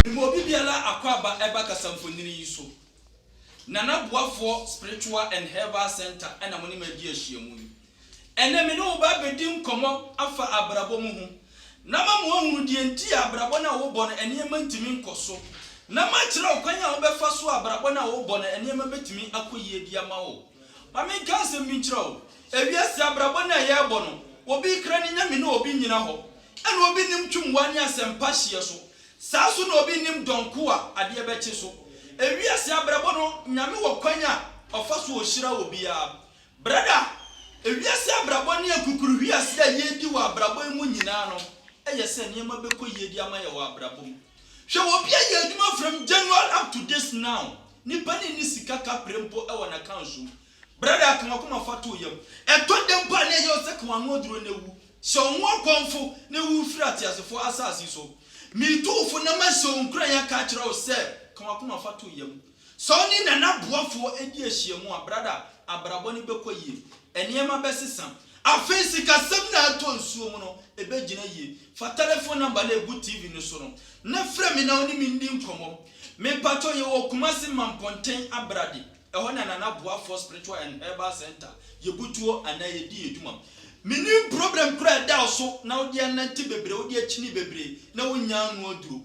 Mma obi biara akwaaba ɛba kasamfonini yi so. Nana Boafoɔ Spiritual and Herbal Centre na mo ne me adi ahyiamu yi. Ɛnnɛ me ne wo ba abɛdi nkɔmmɔ afa abrabɔ mu ho. na ama moahunu deɛ nti a abrabɔ no a worebɔ no nneɛma ntumi nkɔ so, na makyerɛ wo kwan a wobɛfa so a abrabɔ no a worebɔ no nneɛma bɛtumi akɔ yie de ama wo. Ma menka asɛm bi nkyerɛ wo, ewiase abrabɔ no a yɛrebɔ no, obi rekra ne nyame na obi nnyina hɔ, ɛna obi nnim twumwa ne asɛmpa hyeɛ so, saa so na obi nnim dɔn ko a adeɛ bɛkye so. Ewiase abrabɔ no, nyame wɔ kwan a ɔfa so ɔhyira obiara, Brɛda, ewiase abrabɔ ne akukuruhwease a yɛredi wɔ abrabɔ yi mu nyinaa no yɛ sɛ nneɛma bɛkɔ yie de ama yɛn wɔ abrabɔ mu. Hwɛ wɔ obi a yɛ adwuma from January up to this now, nipa no nni sika ka pere mpo wɔ n'accounts mu. Brɛda, ka w'akoma fa to wo yam. Ɛtɔ da mpo a na ɛyɛ wo sɛ ka w'ano aduro na wu. Sɛ wo ho akɔmfo na wu firi ateasefoɔ asase so. Meretu wo fo na mahyɛ wo nkuran aka akyerɛ wo sɛ, ka w'akoma fa to wo yam. Sɛ wo ne Nana Boafoɔ di ahyiamu a, brada, abrabɔ no bɛkɔ yie. Nneɛma bɛsesa. Afei sikasɛm no a ɛtɔ nsuo mu no, ɛbɛgyina yie. Fa tɛlɛfon nɔmba no a ɛgu TV no so no na frɛ me na wo ne me ndi nkɔmmɔ. Me mpa kyɛw, yɛwɔ Kumasi Mampɔnten Abrade. Ɛhɔ na Nana Boafoɔ Spiritual and Herbal Centre, yɛbu tuo anaa yɛdi yɛn dwuma. Mennim problem korɔ a ɛda wo so na wode anante bebree, wode akyini bebree na wonnyaa ano aduro.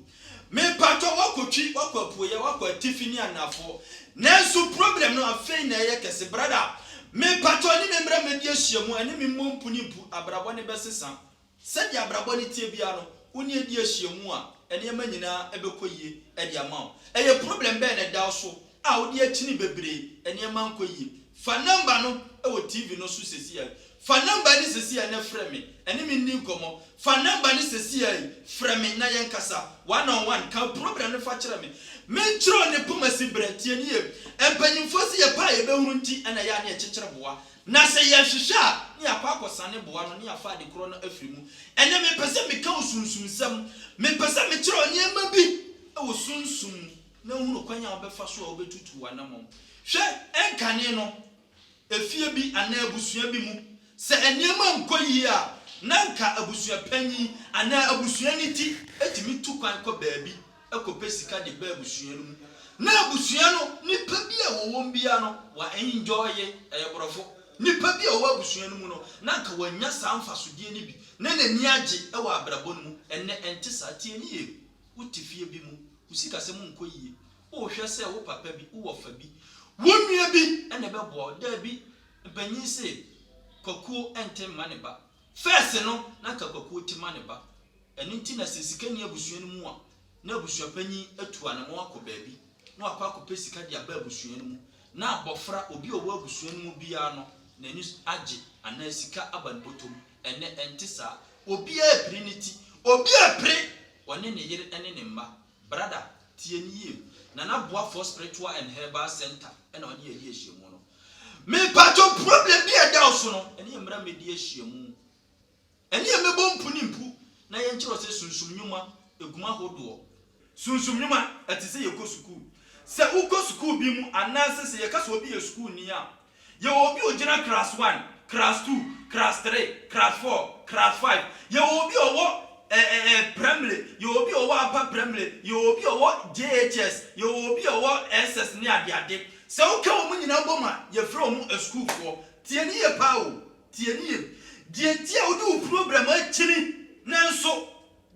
Mepatɔ wakɔ twi wakɔ apueyɛ wakɔ atifi ne anafo nanso problem no afei na ɛyɛ kɛse brada mepatɔ ɛne me mmra mɛdi ahyiamu ɛne me mmɔ mpu ne mpu abrabɔ ne bɛsesa sɛdeɛ abrabɔ ne teɛ biara no wo ne ɛdi ahyiamu a ɛneɛma nyinaa ɛbɛkɔ yie ɛde ama wo ɛyɛ problem bɛn na ɛda wo so a wode akyini bebree nneɛma nkɔ yie. Fa nɔmba no wɔ TV no so sɛsi ara yi. Fa nɔmba no sɛsi ara na frɛ me. Ɛne me nni nkɔmmɔ. Fa nɔmba no sɛsi ara yi. Frɛ me na yɛnkasa one on one. Ka wo problem no fa kyerɛ me. Menkyerɛ wo ne poma si berɛ. Tie no yie. Mpanyimfoɔ se yɛpɛ a yɛbɛhunu nti na ɛyɛ a na yɛkyekyere boa. Na sɛ yɛhwehwɛ a, na yɛakɔ akɔsane boa no na yɛafa ade korɔ no afiri mu. Ɛnnɛ mepɛ sɛ meka wo sunsum nsɛm. Mepɛ sɛ mekyerɛ wo nneɛma bi wɔ sunsum mu. na hu no kwan a wobɛfa so a wubetutu w'anammɔn. Hwɛ nkane no, efie bi anaa abusua bi mu, sɛ nneɛma nkɔ yiye a, na anka abusuapanyin anaa abusua no ti tumi tu kwan kɔ baabi kɔpɛ sika de ba abusua no mu. Ná abusua no nnipa bi a wɔwom biara no, wɔ'enjoye, ɛyɛ borɔfo. Nnipa bi a wɔwɔ abusua no mu no, na anka wɔ'annya saa mfasodeɛ no bi, na n'ani agye wɔ abrabɔ no mu. Ɛnnɛ ɛnte saa. Tie no yie. wote fie bi mu, wo sikasɛm nkɔ yie, wohwɛ sɛ wo papa bi, wo wɔfa bi, wo nua bi na ɛbɛboa wo. Daabi, mpanyin se, Kwakuo nte mma ne ba. First no, na anka Kwakuo te ma ne ba. Ɛno nti na sɛ sika nni abusua no mu a, na abusuapanyin atu anamɔn akɔ baabi na wakɔ akɔpɛ sika de aba abusua no mu. Na abɔfra, obi a ɔwɔ abusua no mu biara no, n'ani agye anaa sika aba ne bɔtɔ mu. Ɛnnɛ, ɛnte saa. Obiara repere ne ti. Obi repere ɔne ne yere ne ne mma. Brada, tie no yie. Nana Boafoɔ Spiritual and Herbal Centre na ɔne yɛn adi ahyiamu no. Me mpakyɛw, problem bi a ɛda wo so no, ɛne yɛn mmra mmɛdi ahyiamu. Ɛne yɛn mmɛbɔ mpu ne mpu na yɛnkyerɛ wo sɛ sunsum nnwuma, aguma ahodoɔ, Sunsum nnwuma, Ɛte sɛ yɛkɔ sukuu. Sɛ wokɔ sukuu bi mu anaasɛ sɛ yɛka sɛ obi yɛ sukuuni a, yɛwɔ obi a ogyina Class One, Class Two, Class Three, Class Four, Class Five. Yɛwɔ obi a ɔwɔ ɛɛ Primary, yɛwɔ obi a ɔwɔ Upper Primary, yɛwɔ obi a ɔwɔ JHS, yɛwɔ obi a ɔwɔ SS ne adeade. Sɛ woka wɔn nyinaa bom a, yɛfrɛ wɔn asukuufoɔ. Tie no yie paa o, tie no yie. Deɛ nti a wode wo program akyini nanso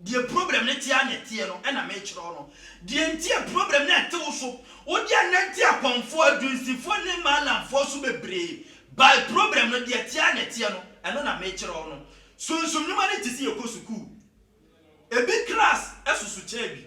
Deɛ problem no te ara na ɛteɛ no na mekyerɛw no. Deɛ nti a problem no rete wo so, wode anante akɔmfoɔ, adunsifoɔ ne maalamfoɔ so bebree bae. Problem no, deɛ ɛte ara na ɛteɛ no, ɛno na mekyerɛw no. Sunsum nnwuma no te sɛ yɛkɔ sukuu. Ebi klas soso kyɛn bi.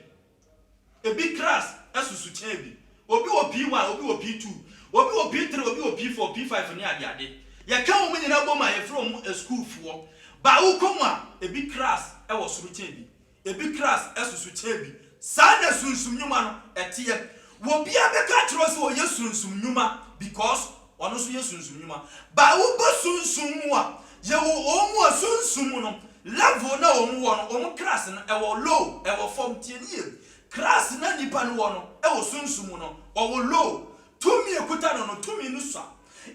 Ebi kras susu kyɛn bi. Obi wɔ P1, obi wɔ P2, obi wɔ P3, obi wɔ P4, P5 ne adeade. Yɛka wɔn nyinaa bom a, yɛfrɛ wɔn asukuufoɔ. Ba a wokɔ mu a, ebi kras wɔ soro kyɛn bi. Ebi kras susu kyɛn bi. Saa na sunsum nnwuma no teɛ. Obiara bɛka akyerɛ wo sɛ ɔyɛ sunsum nnwuma because Ɔno nso yɛ sunsum nnwuma. By wobɔ sunsum mu a, yɛwɔ wɔn mu a sunsum mu no, level no a wɔn wɔ no, wɔn class no, ɛwɔ low, ɛwɔ fam. Tie no yie. Class no a nipa no wɔ no, wɔ sunsum mu no, ɔwɔ low. Tumi a ɛkuta no no, tumi no sua.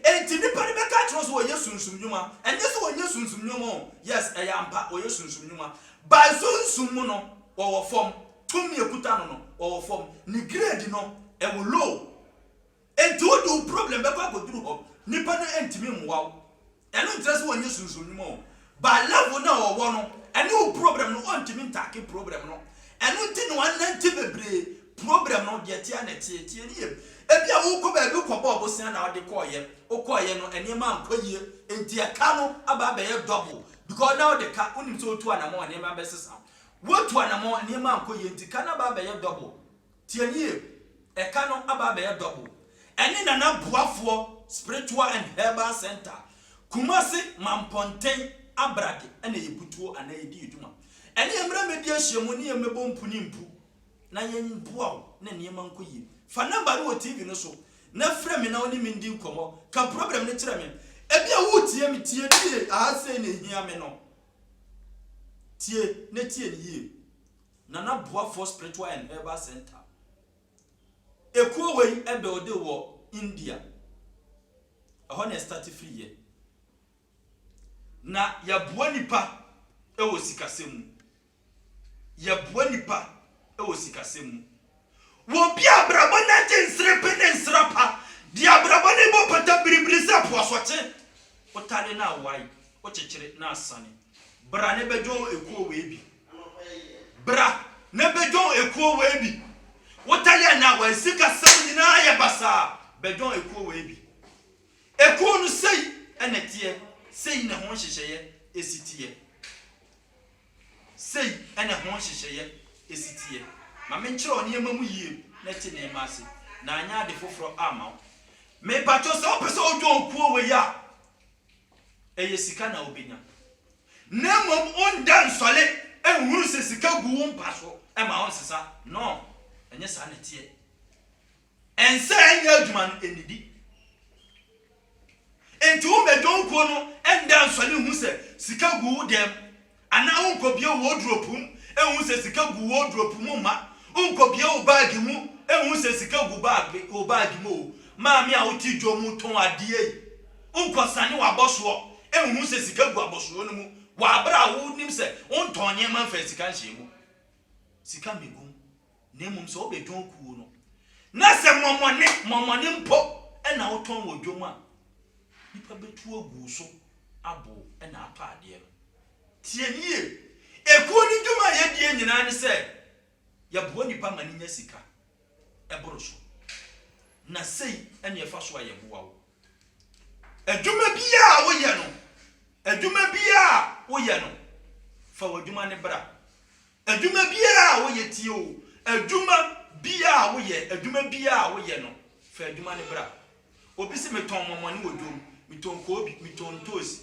Enti nipa no bɛka akyerɛ wo sɛ ɔyɛ sunsum nnwuma. Ɛnyɛ sɛ ɔnyɛ sunsum nnwuma o, yes, ɛyɛ ampa, ɔyɛ sunsum nnwuma. By sunsum mu no, ɔwɔ fam. Tumi a ɛkuta no no, ɔwɔ fam. Ne grade no, ɛwɔ low. Enti wode wo problem bɛkɔ akɔduru hɔ, nnipa no ntumi mmoa wo. Ɛno nkyerɛ sɛ wɔnyɛ sunsum nnwuma o, but level no a wɔwɔ no, ɛne wo problem no wɔntumi ntaake problem no, ɛno nti na wɔanante bebree, problem no deɛ ɛteɛ ara na ɛteɛ, tie no yie, ebia worekɔ baabi wokɔbɔɔ bosea na wode kɔeɛ, wokɔeɛ no nneɛma ankɔ yie, enti ɛka no aba abɛyɛ double, because na wode ka, wonim sɛ wotu anamɔn a nneɛma bɛsesa, woatu anamɔn nneɛma ankɔ yie nti ka no aba abɛyɛ double. Tie nie, ɛka no aba abɛyɛ double. Ɛne Nana Boafoɔ Spiritual and Herbal Centre, Kumasi Mampɔnten Abrage na yɛbu tuo anaa yɛdi yɛ dwuma. Ɛneɛ mmra mmɛdi ahyiamu ne yɛn mmɛbɔ mpu ne mpu na yɛn boa wo na nneɛma nkɔ yie. Fa number no wɔ TV no so na frɛ me na wo ne me ndi nkɔmmɔ. Ka problem no kyerɛ me. Ebia woretie me, tie nie, aha sei na ɛhia me no. Tie na tie no yie. Nana Boafoɔ Spiritual and Herbal Centre. Ekuo wei builde wɔ India. Ɛhɔ na ɛstarte firi yɛ. Na yɛboa nipa wɔ sikasɛm mu. Yɛboa nipa wɔ sikasɛm mu. Wɔ obi a abrabɔ no agye nserepe ne nsra pa, deɛ abrabɔ no bɔ pata biribiri sɛ po asɔkye, wotane na awae, wokyekyere na asane. Bra na bɛdwɔn ekuo wei bi. Bra na bɛdwɔn ekuo wei bi. Wotane na awae, sikasɛm nyinaa yɛ basaa, bɛdwɔn ekuo wei bi. Ekuo no sei na ɛteɛ, sei na ɛho nhyehyɛeɛ si teɛ. Sei na ɛho nhyehyɛeɛ si teɛ. Ma menkyerɛ wo nneɛma mu yie na te nneɛma ase, na anyɛ ade foforɔ amma wo. Mepakyɛw, sɛ wopɛ sɛ wodwen kuo wei a, ɛyɛ sika na wobɛnya. Na mmom wonda nsɔre nhunu sɛ sika gu wo mpa so ma wonsesa. No, ɛnyɛ saa na ɛteɛ. Ɛnsɛ ɛnyɛ adwuma no nnidi. Enti wommɛdwɔ wo kuo no nda nsɔre nhu sɛ sika gu wo dan mu, anaa wonkɔbue wo wɔdropu mu nhu sɛ sika gu wo wɔdropu mu mma wonkɔbue wo baage mu nhu sɛ sika gu baage wo baage mu oo. Maame a wote dwa mu tɔn adeɛ yi, wonkɔsane w'abɔsoɔ nhu sɛ sika gu abɔsoɔ no mu wɔ aberɛ a wonim sɛ wontɔn nneɛma mfaa sika nhyɛɛ mu. Sika mmɛgu mu. na mmom sɛ wobɛdwon kuo no, na sɛ mɔmɔne, mɔmɔne mpo na wotɔn wɔ dwom a, nnipa bɛtu agu wo so abo wo na atɔ adeɛ no. Tie me yie, ekuo no dwuma a yɛdie nyinaa ne sɛ yɛboa nipa ma no nya sika, ɛboro so. Na sei na ɛfa so a yɛboa wo. Adwuma biara a woyɛ no, adwuma biara a woyɛ no, fa w'adwuma no bra. Adwuma biara a woyɛ tie o, adwuma biara a woyɛ, adwuma biara a woyɛ no, fa adwuma no bra. Obi se metɔn mɔmɔne wɔ dwom, metɔn koobi, metɔn ntoosi,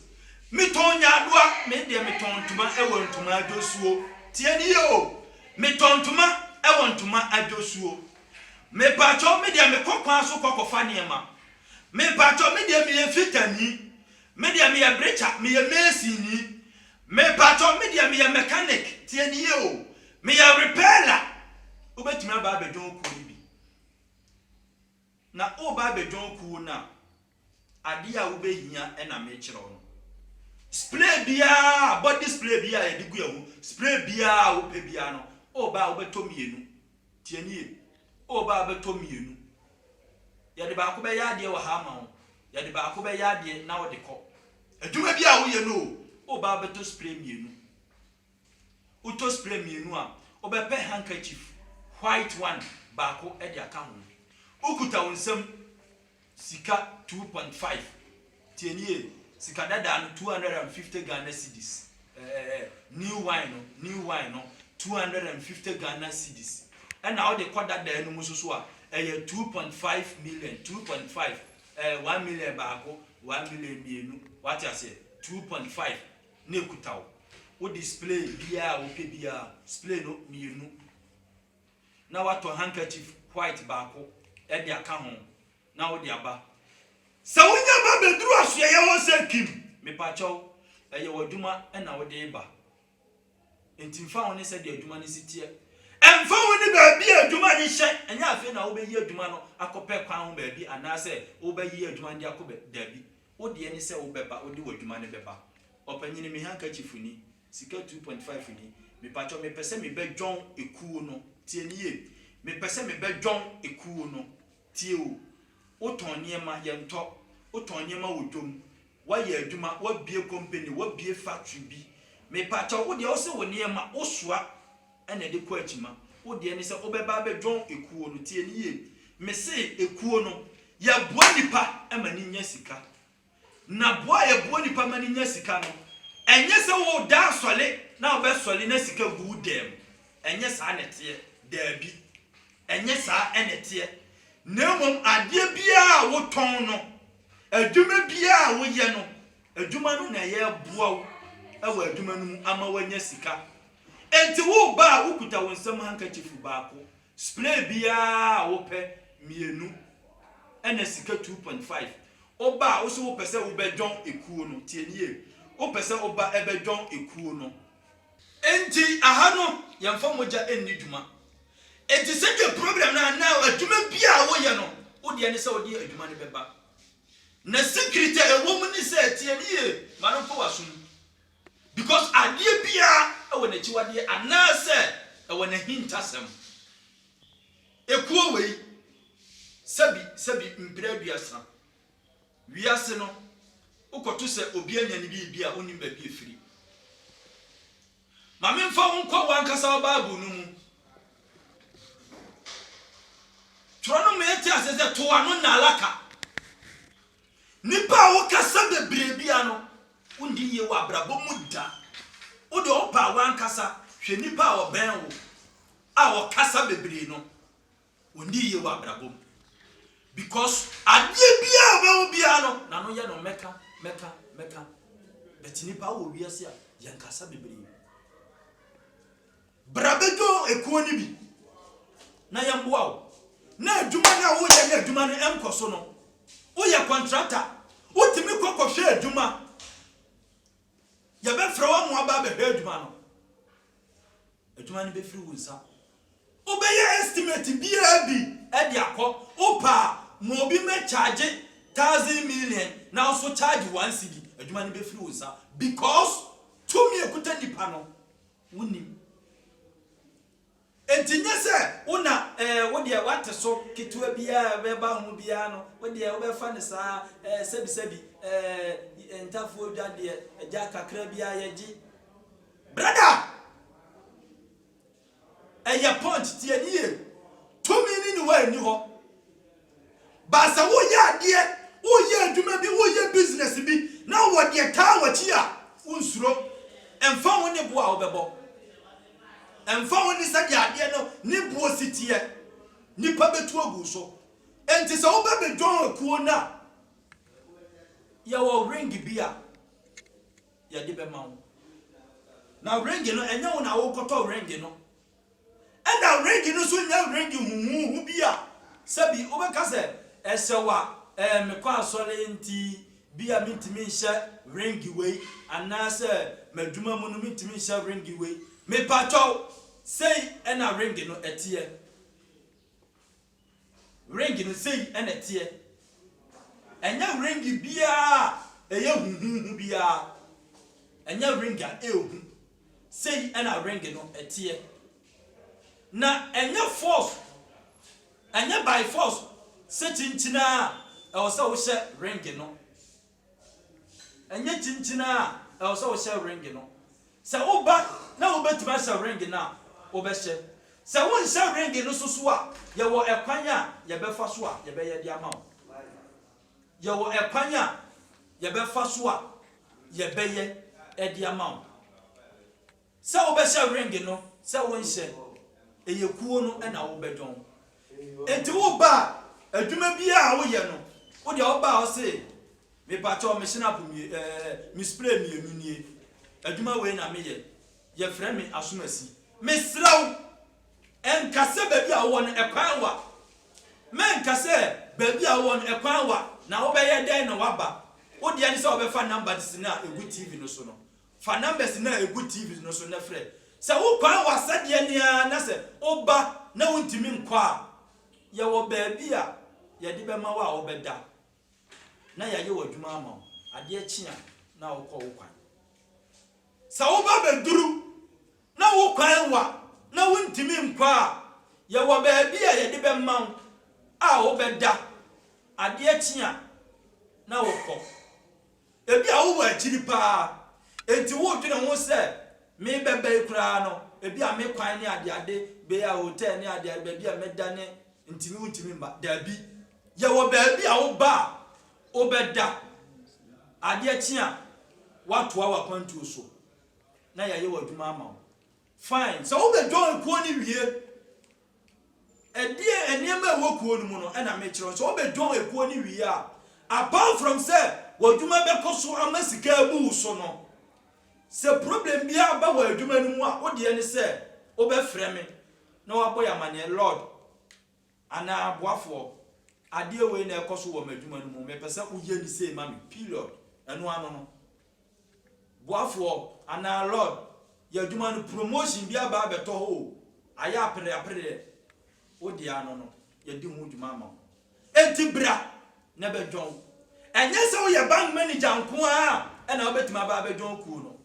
metɔn nyaadoa, me deɛ metɔn ntoma wɔ ntoma adwosuo. Tie ni o, metɔn ntoma wɔ ntoma adwosuo. Mepakyɛw me deɛ mekɔ kwan so kɔ kɔfa nneɛma Mepakyɛw me deɛ meyɛ fitani Me deɛ meyɛ brekya meyɛ masini Mepakyɛw me deɛ meyɛ mechanic Tie ne yie o Meyɛ repeller Wobɛtumi aba abɛjoin kuo no bi Na woreba abɛjoin kuo no a Adeɛ a wobɛhia na mekyerɛ wo no. Spray biara, body spray biara a yɛde gu yɛn ho, spray biara a wopɛ biara no, woba a wobɛtɔ mmienu. Tie nie, woba a wobɛtɔ mmienu. Yɛde baako bɛyɛ adeɛ wɔ ha ama wo, yɛde baako bɛyɛ adeɛ na wode kɔ. Adwuma bi a woyɛ no o, woba a wobɛtɔ spray mmienu. Wotɔ spray mmienu a, wobɛpɛ handkerchief white one baako de aka ho. Wokuta wo nsam sika two point five, tie nie, sika dadaa no two hundred and fifty Ghana cedis, ɛɛ new wine no, new wine no two hundred and fifty Ghana cedis. Ɛna wode kɔ dadaa no mu nso so a, ɛyɛ two point five million, two point five, ɛɛ one million baako, one million mmienu, wate aseɛ, two point five na ekuta wo. Wo display biara a wopɛ biara, display no mmienu, na woatɔ handkerchief white baako de aka ho na wode aba. Sɛ wonya ba bɛduru asoɛeɛ hɔ sɛ Kim, mepakyɛw, ɛyɛ w'adwuma na wode reba. Enti mfa ho ne sɛdeɛ adwuma no si teɛ, ɛmfa ho ne baabi a adwuma no hyɛ, ɛnyɛ afei na wobɛyi adwuma no akɔpɛ kwan ho baabi anaasɛ wobɛyi adwuma no de akɔ baabi, Wo deɛ ne sɛ wobɛba, wode w'adwuma no bɛba. Ɔpanyini, me handkerchief ni, sika two point five ni, mepakyɛw, mepɛ sɛ mebɛdwɔn ekuo no. Tie no yie. Mepɛ sɛ mebɛdwɔn ekuo no. Tie o. Wotɔn nneɛma, yɛntɔ. Wotɔn nneɛma wɔ dwom. Woayɛ adwuma, woabue company, woabue factory bi. Mepakyɛw, wo deɛ wose wo nneɛma, wosoa. Ɛna ɛde kɔ akyima. Wo deɛ ne sɛ wobɛba abɛdwɔn ekuo no. Tie no yie. Me se ekuo no, yɛboa nipa ma no nya sika. Na boa a yɛboa nipa ma no nya sika no, ɛnyɛ sɛ wo da asɔre na wobɛsɔre na sika gu wo dan mu. Ɛnyɛ saa na ɛteɛ. Daabi. Ɛnyɛ saa na ɛteɛ. Na mmom adeɛ biara a wotɔn no, adwuma biara a woyɛ no, adwuma no na yɛboa wo wɔ adwuma no mu ama woanya sika. Enti woreba a wokuta wo nsam hankakyifu baako, spray biara a wopɛ mmienu, ɛna sika two point five. Woba a wose wopɛ sɛ wobɛdwɔn ekuo no, tie nie, wopɛ sɛ woba ɛbɛdwɔn ekuo no. Enti aha no yɛmfa mogya nni dwuma. Enti sɛdeɛ program no anaa adwuma bi a woyɛ no, wo deɛ ne sɛ wode adwuma no bɛba. Na secret a ɛwɔ mu ne sɛ, tie no yie, ma no mfa w'asom. Because adeɛ biara wɔ n'akyiwadeɛ anaasɛ ɛwɔ n'ahintasɛm. Ekuo wei, sɛbi sɛbi mprɛ aduasa, wiase no, wokɔto sɛ obi anya ne biribi a wonnim baabi a ɛfiri. Ma memfa wo nkɔ w'ankasa wo Bible no mu. Twerɛ no ma yɛte aseɛ sɛ to ano nnalaka. Nnipa a wokasa bebree biara no, wondi yie wɔ abrabɔ mu da. Wo deɛ ɔpa a w'ankasa hwɛ nnipa a ɔbɛn wo a ɔkasa bebree no, wɔndi yie wɔ abrabɔ mu. Because adeɛ biara a ɔbɛho biara no, n'ano yɛ no mɛka, mɛka, mɛka. But nnipa wɔ wiase a, yɛnkasa bebree. Bra bɛdwon ekuo no bi na yɛmboa wo na adwuma no a woreyɛ na adwuma no nkɔ so no, woyɛ kɔntrata, wotumi kɔ kɔhwɛ adwuma, yɛbɛfrɛ wo ama woaba abɛhwɛ adwuma no, adwuma no bɛfiri wo nsa. Wobɛyɛ estimate biara bi de akɔ, wopɛ a ma obi mmɛ charge thousand million na wo nso charge one cedi, adwuma no bɛfiri wo nsa because tumi a ɛkuta nipa no, Wonnim. Enti nyɛ sɛ wo na ɛɛ wo deɛ w'ate so ketewa biara a ɛbɛba ho biara no wo deɛ wobɛfa no saa ɛɛ sɛbisɛbi ɛɛ ntafoɔ dwa deɛ gya kakra biara yɛgye. Brada! Ɛyɛ punch, tie no yie. Tumi no nni hɔ a ɛnni hɔ. But sɛ woreyɛ adeɛ, woreyɛ adwuma bi, woreyɛ business bi na wɔ deɛ taa w'akyi a, wonsuro. Ɛmfa ho ne bo a wobɛbɔ. Ɛmfa ho ne sɛdeɛ adeɛ no ne boɔ si teɛ. Nnipa bɛtu agu wo so. Enti sɛ wobɛ bɛ join akuo no a, yɛwɔ ring bi a yɛde bɛma wo. Na ring no, ɛnyɛ wo na wokɔtɔ ring no. Ɛnna ringi no nso nyɛ ringi huhuuhu bi a sɛbi wobɛka sɛ ɛhyɛ wo a, ɛɛ, mekɔ asɔre nti bia mentumi nhyɛ ringi wei, anaasɛ m'adwuma mu no mentumi nhyɛ ringi wei. Mepakyɛw, sei na ringi no teɛ. Ring no sei na ɛteɛ. Ɛnyɛ ring biara a ɛyɛ huhuuhu biara. Ɛnyɛ ring a ɛyɛ hu. Sei na ring no teɛ. Na ɛnyɛ force, ɛnyɛ by force sɛ kyinkyin ara a ɛwɔ sɛ wohyɛ ring no. Ɛnyɛ kyinkyin ara a ɛwɔ sɛ wohyɛ ring no. Sɛ woba na wubetumi ahyɛ ring no a, wobɛhyɛ. Sɛ wonhyɛ ring no nso so a, yɛwɔ kwan a yɛbɛfa so a yɛbɛyɛ de ama wo. Yɛwɔ kwan a yɛbɛfa so a yɛbɛyɛ de ama wo. Sɛ wobɛhyɛ ring no sɛ wonhyɛ, ɛyɛ kuo no na wobɛdwɔn. Nti woba a, adwuma biara a woyɛ no, wo deɛ woba a wo se, mepakyɛw me chin up mmienu ɛɛ me spray mmienu nie, adwuma wei na meyɛ, yɛfrɛ me Asumasi. Mesrɛ wo, nka sɛ baabi a wowɔ no ɛkwan wa. Menka sɛ baabi a wowɔ no ɛkwan wa na wobɛyɛ dɛn na woaba. Wo deɛ ne sɛ wobɛfa numbers no a ɛgu TV no so no, Fa numbers no a ɛgu TV no so na frɛ. Sɛ wo kwan wɔ asɛdeɛ no ara na sɛ woba na wontumi nkɔ a, yɛwɔ baabi a yɛde bɛma wo a wobɛda na yɛayɛ w'adwuma ama wo. Adeɛ kye a na wokɔ wo kwan. Sɛ woba bɛduru na wo kwan wɔ na wontumi nkɔ a, yɛwɔ baabi a yɛde bɛma wo a wobɛda. Adeɛ kye a na wokɔ. Ebia wowɔ akyiri paa, enti woredwene ho sɛ, 'Me bɛba yi koraa no, ebia me kwan ne adeade bɛyɛ a, hotɛl ne adeade, baabi a mɛda ne ntini wontumi mma. Dabi. Yɛwɔ baabi a woba a, wobɛda, adeɛ kye a, woatoa w'akwantuo so, na yɛayɛ w'adwuma ama wo. Fine, sɛ wobɛ join kuo no wie Ɛdeɛn nneɛma a ɛwɔ kuo no mu no na mekyerɛ wo sɛ wobɛdwɔn ekuo no wie a, apart from sɛ w'adwuma bɛkɔ so ama sika abu wo so no, sɛ problem biara ba wɔ adwuma no mu a, wo deɛ ne sɛ wobɛfrɛ me na wabɔ yɛ amaneɛ, Lord anaa boafoɔ, adeɛ wei na ɛrekɔ so wɔ m'adwuma no mu, mepɛ sɛ woyɛ no sei ma me, period. Ɛno ano no. boafoɔ anaa lord yɛ adwuma no promotion bi aba abɛtɔ hɔ o ayɛ apere apereɛ wo deɛ ano no yɛdi ho dwuma ama wo enti bra na ɛbɛdwɔn ɛnyɛ sɛ woyɛ bank manager nko ara ɛna wobɛtumi aba abɛdwɔn kuo no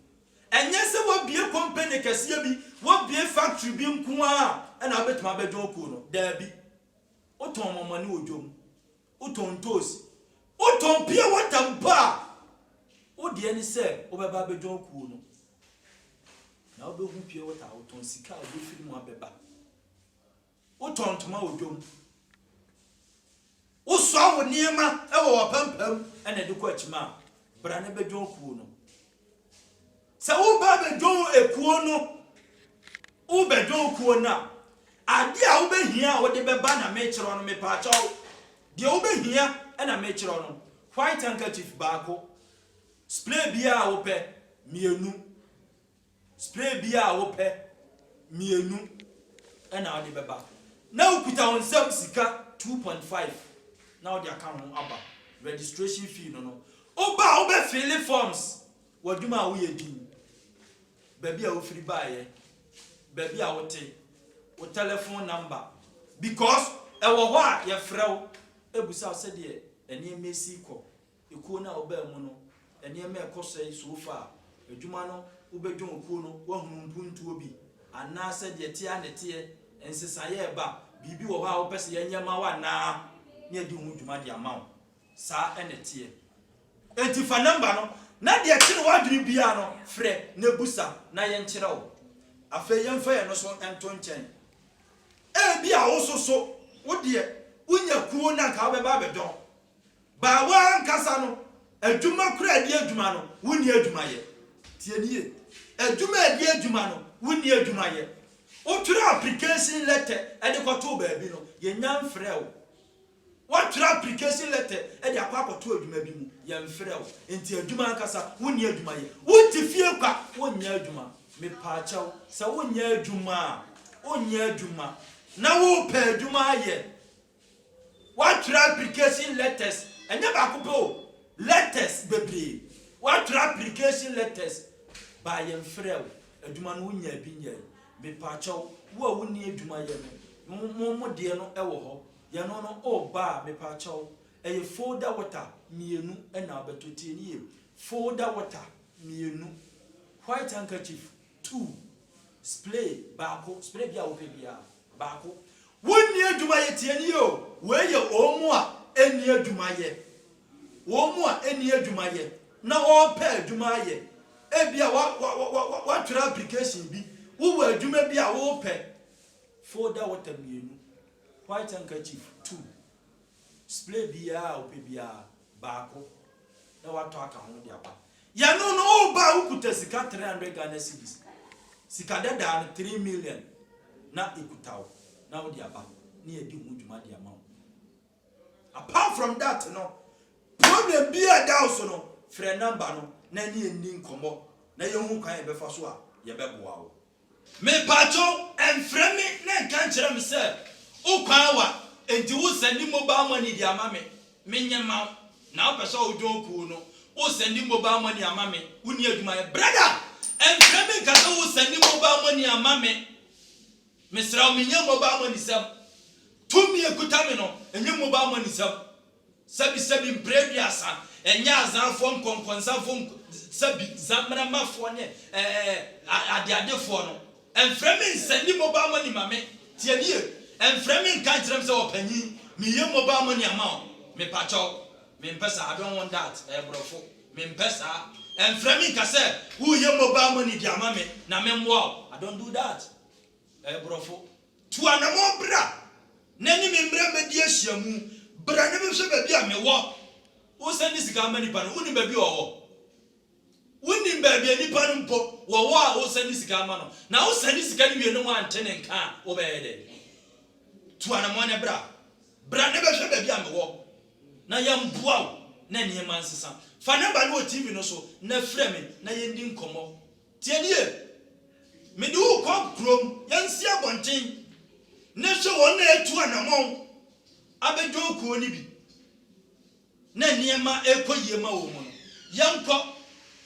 ɛnyɛ sɛ wabie company kɛseɛ bi wabie factory bi nko ara ɛna wobɛtumi abɛdwɔn kuo no daabi wotɔn mɔmɔne wɔ dwom Wotɔn ntoosi, wotɔn pure water mpo a, wo deɛ ne sɛ wobɛba abɛdwa wo kuo no. Na wobɛhu pure water a wotɔn, sika a wobɛfiri mu abɛba. Wotɔn ntoma wɔ dwom. Wosoa wo nneɛma wɔ w'apampam na ɛde kɔ akyima a, bra na bɛdwa wo kuo no. Sɛ woreba abɛdwon ekuo no, wobɛdwon kuo no a, adeɛ a wobɛhia a wode bɛba na mekyerɛ wo no, mepaakyɛw, deɛ wobɛhia na mekyerɛ wo no, white handkerchief baako, spray biara a wopɛ, mmienu, spray biara a wopɛ, mmienu, ɛna wode bɛba. Na wokuta wo nsam sika 2.5 na wode aka ho aba registration fee no no. Woba a wobɛfeele forms. W'adwuma a woyɛ din, baabi a wofiri baeɛ, baabi a wote, wo tɛlɛfon namba, because ɛwɔ hɔ a yɛfrɛ wo bisa wo sɛdeɛ nneɛma ɛsi kɔ, ekuo no a wobaa mu no nneɛma a ɛkɔ sɛn so far, adwuma no wobɛdwɔn kuo no woahunu mpuntuo bi anaa sɛ deɛ ɛteɛ ara na ɛteɛ, nsesaeɛ a ɛba, biribi wɔ hɔ a wopɛ sɛ yɛnyɛ ma wo anaa na yɛadi ho dwuma de ama wo. Saa na ɛteɛ. Enti fa nɔmba no, na deɛ ɛkyere w'adwene biara no, frɛ na bisa na yɛnkyerɛ wo. Afei yɛmfa yɛn no so nto nkyɛn. Ebia wo nso so, wo deɛ, wonya kuo na anka wobɛba abɛdɔn. Baa wo ara ankasa no, adwuma koraa di adwuma no, wonni adwuma yɛ. Tie no yie. Adwuma a ɛdi adwuma no, wonni adwuma yɛ. Wotwerɛ application letter de kɔtoo baabi no, yɛnnya mfrɛɛ wo. Woatwerɛ application letter de akɔ akɔto adwuma bi mu, yɛmfrɛ wo, nti adwuma ankasa wonni adwuma yɛ. Wote fie kwa, wonyɛ adwuma. Mepaakyɛw, sɛ wonyɛ adwuma a, wonyɛ adwuma na worepɛ adwuma ayɛ. Woatwerɛ application letters, ɛnyɛ baako pɛ o, letters bebree. Woatwerɛ application letters, baa yɛmfrɛ wo, adwuma no wonyaa bi nyɛe. Mepaakyɛw, wo a wonni adwuma yɛ no, mo deɛ no wɔ hɔ. Yɛno no oh baa mepaakyɛw ɛyɛ folder water mmienu na wobɛtɔ tie no yie folder water mmienu white handkerchief two splay baako splay bi a wopɛ biara baako wonni adwumayɛ tie no yie o wei yɛ wɔn mu a ɛnni adwumayɛ wɔn mu a ɛnni adwumayɛ na wɔrepɛ adwuma ayɛ ebi a wɔatwerɛ application bi wowɔ adwuma bi a worepɛ folder water mmienu White handkerchief, two. Spray biaa a wopɛ biaa, baako, na watɔ aka ho de aba. Yɛno no, woba a wokuta sika three hundred Ghana cedis. Sika dadaa no, three million na ɛkuta wo, na wode aba, na yɛadi ho dwuma de ama wo. Apart from that no, problem biaa a ɛda wo so no, frɛ number no na yɛne wo nni nkɔmmɔ na yɛhu kwan a yɛbɛfa so a yɛbɛboa wo. Mepaatwo ɛnfrɛ me na ɛnka nkyerɛ me sɛ wo kwan awa nti wo sɛndi mobal mɔni de ama me me nyɛ ma wo na wo pɛ sɛ wo dwon kuu no wo sɛndi mobal mɔni ama me wo ni adwuma yɛ brada ɛnfrɛ me nka sɛ wo sɛndi mobal mɔni ama me mesrɛ wo me nyɛ mobal mɔni sɛm tumi ɛkuta me no ɛnyɛ mobal mɔni sɛm. Sɛbisɛbi mprɛduasa, ɛnyɛ Azanfoɔ nkɔnkɔnsafoɔ nko sɛbi Zammeramafoɔ ne ɛɛɛ adeadefoɔ no, ɛmfrɛ me nsɛndi mobile money ma me, tie me yie, ɛmfrɛ me nka nkyerɛ me sɛ ɔpanyin, meyɛ mobile money ama wo, mepakyɛw, mempɛ saa, I don't want that, ɛyɛ borɔfo, mempɛ saa, ɛmfrɛ me nka sɛ woreyɛ mobile money de ama me na memmoa wo, I don't do that. Ɛyɛ borɔfo. Tu anamɔn bra na ne me mmra mmɛdi ahyiamu. Bra na bɛhwɛ baabi a me wɔ. Wo sɛ ne sika ama nipa no, wo nim baabi a ɔwɔ? Wo nim baabi a nipa no mpo wɔwɔ a wo sɛ ne sika ama no? Na wo sɛ ne sika no wie na wɔante ne nka a wo bɛyɛ dɛ? Tu anamɔn na bra. Bra na bɛhwɛ baabi a me wɔ na yɛ mboa wo na nneɛma nsesa. Fa number no wɔ TV no so na frɛ me na yɛ ndi nkɔmɔ. Tie me yie, mede wo rekɔ kurom, yɛnsi abɔnten, na hwɛ wɔn a atu anammɔn abɛdwɔn kuo no bi, na nneɛma rekɔ yie ma wɔn no. Yɛnkɔ,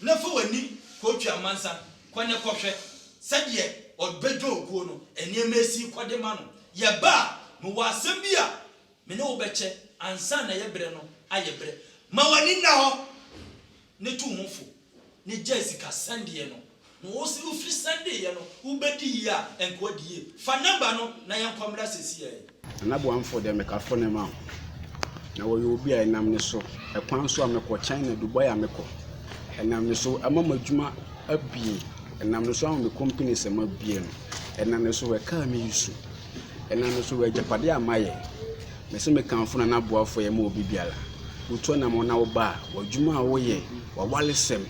na fa w'ani kɔtwi amansa, kɔ na kɔhwɛ sɛdeɛ wɔbɛdwɔn kuo no, nneɛma asi rekɔ de ma no. Yɛba a, mewɔ asɛm bi a me ne wo bɛkyɛ ansa na yɛberɛ no ayɛ berɛ. Ma w'ani nna hɔ. ne tu ho fo ne gyae sika sɛndeɛ no na wo se wo firi sɛndeɛ no wo bɛ di yie a ɛnka ɔdi yie fa number no na yɛn kɔ mmra sɛsi a yi. Nana Boamfoɔ deɛ meka fone ma wo na wɔyɛ obi a ɛnam ne so ɛkwan so a mekɔ China Dubai a mekɔ ɛnam ne so ama ma adwuma abie ɛnam ne so ama me company sɛ ma bie no ɛnam ne so wɔ car me use ɛnam ne so wɔ agyapadeɛ a mayɛ Mese mekamfo na n'aboafoɔ yɛ ma obi biara. Wotu anamɔn na woba a, w'adwuma a woyɛ, w'awaresɛm,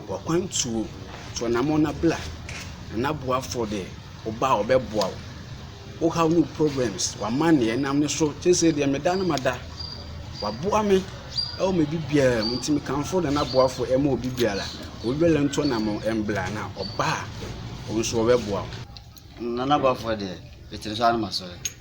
w'akwantuo, tu anamɔn na bra. Na n'aboafoɔ deɛ, woba a ɔbɛboa wo. Wo haw ne wo problems, w'amanneɛ, ɛnam ne so, seesei deɛ meda no mada. Waboa me wɔ me bibiara mu, nti mekamfo na n'aboafoɔ yɛ ma obi biara. Obi biara ntu anamɔn mbra, na ɔba a, wo nso ɔbɛboa wo. Na n'aboafoɔ deɛ, mete ne so ara na masɔre.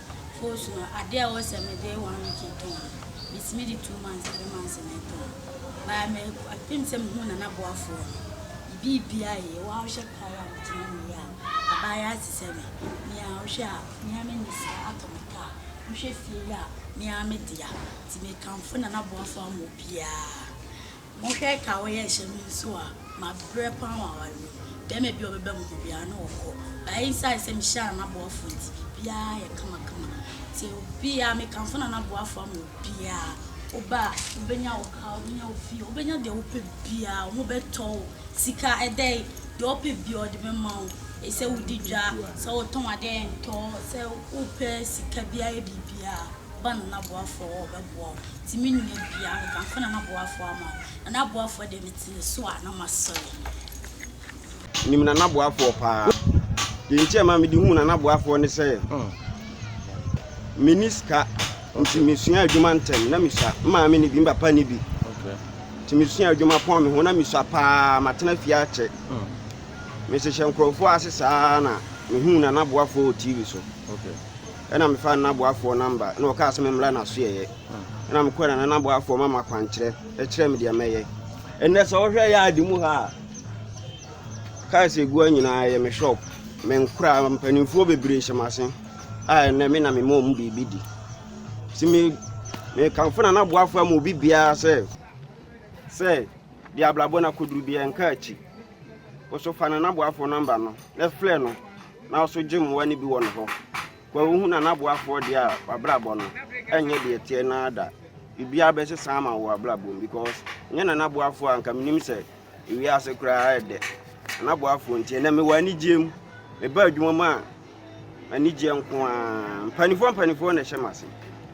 Foosu no ade a ɛwɔ sɛ mede one week tɔn no metumi de two months three months na ɛtɔn baa me apem sɛ mehu nana boafoɔ no bibi bia yɛ wa wohwɛ paa yɛ a metena mu yɛ a abaa yɛ ate sɛ me mea wohwɛ a mea me ne sika atɔ me kaa wohwɛ fie yɛ a mea me dea ti me kamfo nana boafoɔ ama obiaa Monhwɛ ɛka a wɔyɛ nhyɛ me nso a mabrɛ paa wɔ aware mu yi. Bɛɛma bi a ɔbɛba me hɔ biara na ɔkɔ. But esiane sɛ mehyɛ Nana Boafo nti, biribiara ayɛ kamakama. Nti obiara, mekamfo Nana Boafo ama obiara. Woba a, wobɛnya wo car, wobɛnya wo fie, wobɛnya deɛ wopɛ biara. Wɔbɛtɔ wo. Sika, ɛdɛ yi, deɛ wopɛ biara wɔde bɛma wo. Sɛ wodi dwa, sɛ wotɔn adeɛ a ɛntɔ, sɛ wopɛ sika biara yɛ biribiara, ba Nana Boafo hɔ a ɔbɛboa wo. Nti me nua bia me ka nko na naboafoɔ ama wo na naboafoɔ deɛ mete ne so a na masɔre. Nim nana boafoɔ paa. Deɛ nti a ma mede hu nana boafoɔ ne sɛ meni sika nti mesua adwuma ntɛm na mesua maame ne bi papa ne bi nti mesua adwuma pɔn me ho na mesua paa matena fie akyɛ mesehwɛ nkurɔfoɔ ase saa na mehu nana boafoɔ wɔ tv so okay. Ɛna mefaa no n'aboafoɔ namba, na ɔkaa sɛ memmra n'asoɛeɛ. Ɛna mekɔɛ na na n'aboafoɔ ma makwankyerɛ, ɛkyerɛ me deɛ mɛyɛ. Ɛnɛ sɛ wohwɛ yaade mu ha a, kaas egua nyinaa yɛ me shop. Menkora mpanimfoɔ bebree hyɛ m'ase a ɛnɛ me na mema wɔn biribi di. Si me mekamfo na n'aboafoɔ ama obi biara sɛ sɛ deɛ abrabɔ na koduru biara nka akyi. Woso fa na n'aboafoɔ namba no na frɛ no. na ɔso gye mmoa no bi wɔ ne hɔ ma wohu na n'aboafoɔ deɛ a wabrabɔ no ɛnyɛ deɛ ɛteɛ no ara da biribiara bɛsesa ama wɔ abrabɔ mu because nyɛ na n'aboafoɔ a nka menim sɛ ewiase koraa ɛdɛ n'aboafoɔ nti ɛnɛ mewɔ anigyeɛ mu meba adwuma mu a anigyeɛ nko a mpanimfoɔ mpanimfoɔ na ɛhyɛ m'ase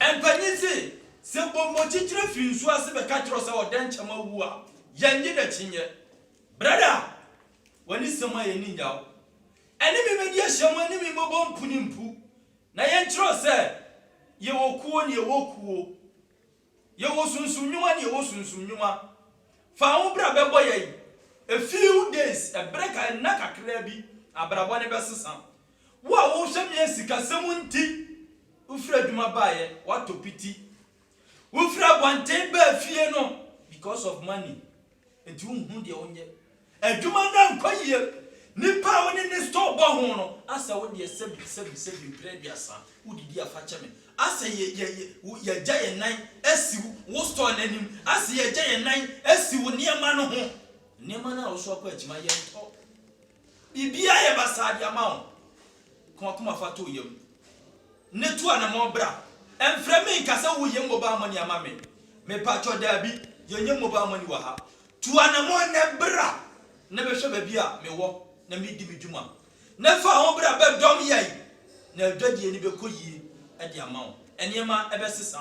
Mpanyin se, Sɛ bɔmmɔkyikyire firi nsuo ase bɛka kyerɛ wo sɛ ɔdɛnkyɛm awu a, yɛnnye no akyinnye. Brada, w'ani sɛ mu a yɛnni nnyaw. Ɛne me mmɛdi ahyiam, ɛne me mmɛbɔ mpu ne mpu, na yɛnkyerɛ wo sɛ yɛwɔ kuo ne yɛwɔ kuo. Yɛwɔ sunsum nnwuma ne yɛwɔ sunsum nnwuma. Fa wo bra bɛbɔ yɛn. A few days, ɛberɛ ka, nna kakraa bi, abrabɔ no bɛsesa. Wo a wohwɛ me a sikasɛm nti wofiri adwuma baeɛ, woatɔ piti. Wofiri abɔnten baa fie no because of money. Enti wonhu deɛ wonyɛ. Adwuma no ankɔ yie. Nipa a wo ne no store bɔ ho no asɛ wo deɛ sɛbi sɛbi sɛbi mprɛ aduasa wodidi a fakyɛ me. Asɛ yɛ yɛ yɛ wo yɛagya yɛn nan asi wo wo store no anim. Asɛ yɛagya yɛn nan asi wo nneɛma no ho. Nneɛma no a wosoa kɔ akyima yɛntɔ. Biribiara yɛ basaa de ama wo. Ka w'akoma fa to wo yam, ne to anammɔn bra. Mfrɛ me nka sɛ woreyɛ mobile money ama me. Mepaatwɔ, daabi, yɛnyɛ mobile money wɔ ha. Tu anammɔn nnɛ bra na bɛhwɛ baabi a mewɔ na meredi me dwuma. Na fa ho bra bɛdɔm yɛn, na adwadie no bɛkɔ yie de ama wo. Nneɛma bɛsesa.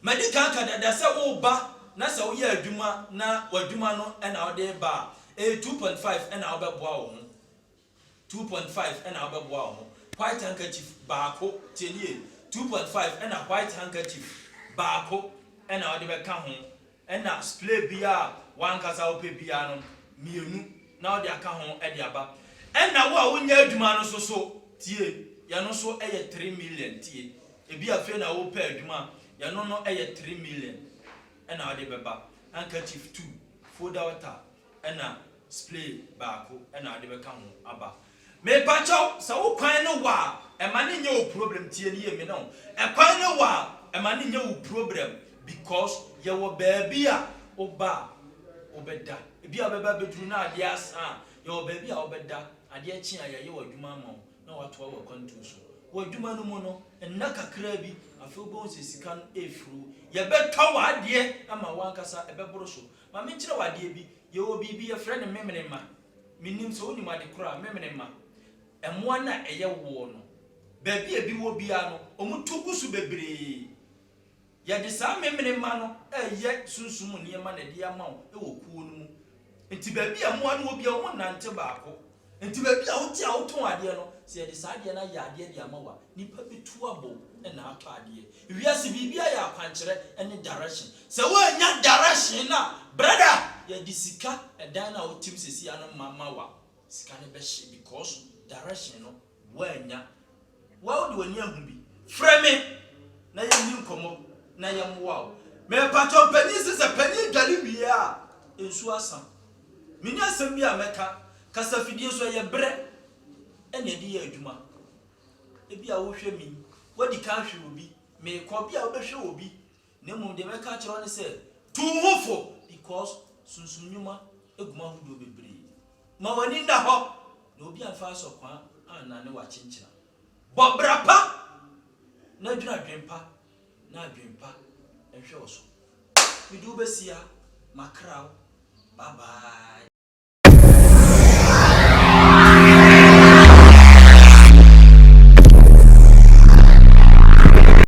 Madi kan aka dada sɛ woreba na sɛ woyɛ adwuma na w'adwuma no na wode reba a, ɛyɛ two point five na wobɛboa wo ho. Two point five na wobɛboa wo ho. White handkerchief baako, tie nie, two point five na white handkerchief baako na wode bɛka ho, ɛna splay biara a w'ankasa wopɛ biara no, mmienu na wode aka ho de aba. Ɛna wo a wonyɛ adwuma no nso so, tie, yɛn no nso yɛ three million, tie, Ebia afei na worepɛ adwuma a yɛno no yɛ three million na wode bɛba, handkerchief two, folder water na splay baako na wode bɛka ho aba. Mepakyɛw, sɛ wo kwan ne wo a, ɛma no nyɛ wo problem, tie no yie, me ne wo, ɛkwan ne wo a, ɛma no nyɛ wo problem because yɛwɔ baabi a woba a wobɛda. Ebia wobɛba abɛduru na adeɛ asa a, yɛwɔ baabi a wobɛda, adeɛ kye a yɛayɛ w'adwuma ama wo, na watoa wo akwantu so. Wɔ adwuma no mu no, nna kakraa bi, afei wobɛhu sɛ sika no refiri wo. Yɛbɛtɔ w'adeɛ ama wo ankasa, ɛbɛboro so. Ma menkyerɛ wo adeɛ bi, Yɛwɔ biribi, yɛfrɛ no memenema. Mennim sɛ wonim ade korɔ a memenema, mmoa no a ɛyɛ woɔ no, baabi a ebi wɔ biara no, wɔto gu so bebree. Yɛde saa memene mma no reyɛ sunsum mu nneɛma na ɛde ama wo wɔ kuo no mu. Nti baabi a mmoa no wɔ biara wɔn nnante baako. Nti baabi a wote a wotɔn adeɛ no, sɛ yɛde saa adeɛ no ayɛ adeɛ de ama wo a, nnipa bɛtu abɔ wo na atɔ adeɛ. Wiase biribiara yɛ akwankyerɛ ne direction. Sɛ woannya direction no a, brada, yɛde sika, ɛdan no a wotem seesei ano ma ma wo a, sika no bɛhye because direction no Woannya. Wo a wode w'ani ahu bi, frɛ me na yɛnni nkɔmmɔ na yɛmmoa wo. Mepakyɛw, Panyin se sɛ panyin dware wie a, nsu asa. Minni asɛm bi a mɛka. Kasafidie so, ɛyɛ berɛ na yɛde yɛ adwuma. Ebia wohwɛ me yi, woadi kan ahwɛ obi. Merekɔ, ebia wobɛhwɛ obi. Na mmom deɛ mɛka akyerɛ wo ne sɛ, tu wo ho fo, because sunsum nnwuma gu mu ahodoɔ bebree. Ma w'ani nna hɔ, na obi amfa asɔkwaa annane wo akyenkyena. Bɔ bra pa, na dwene adwene pa, na adwene pa nhwɛ wo so. Mede wo bɛsi ha, makra wo, bye bye.